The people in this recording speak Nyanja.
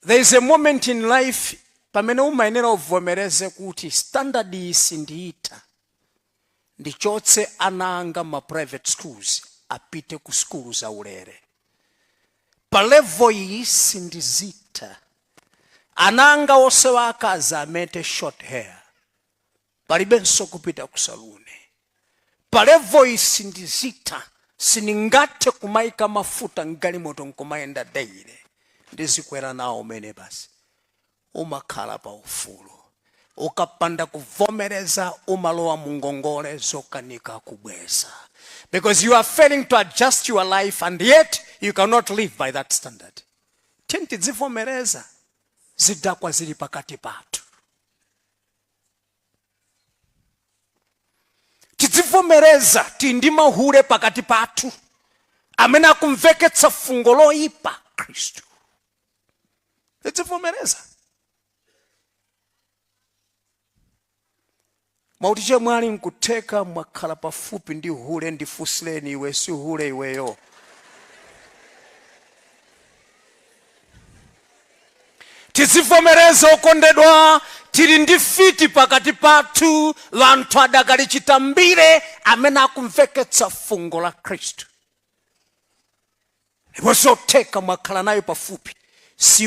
There is a moment in life pamene umayenera uvomereze kuti standard iyi sindiyitha, ndichotse ana anga ma private schools apite ku sukulu zaulere. Pa level iyi sindiyitha, ana anga onse akazi amete short hair. palibenso kupita ku saluni pa level iyi sindiyitha sindingathe kumaika mafuta mgalimoto nkumayenda daily ndizikwera nawo minibasi umakhala pa ufulu ukapanda kuvomereza umalowa mungongole zokanika kubweza because you are failing to adjust your life and yet you cannot live by that standard tiyeni tidzivomereza zidakwa zili pakati pathu tidzivomereza tili ndi mahule pakati pathu amene akumveketsa fungo loyipa khristu tidzivomereza muwauze kuti chemwali nkutheka mwakhala pafupi ndi hule ndifunsireni iwe si hule iweyo Tizivomereza okondedwa, tili ndi mfiti pakati pathu, anthu adakali chitambire, amene akumveketsa fungo la Khristu. Ndipo zotheka, mwakhala naye pafupi, si.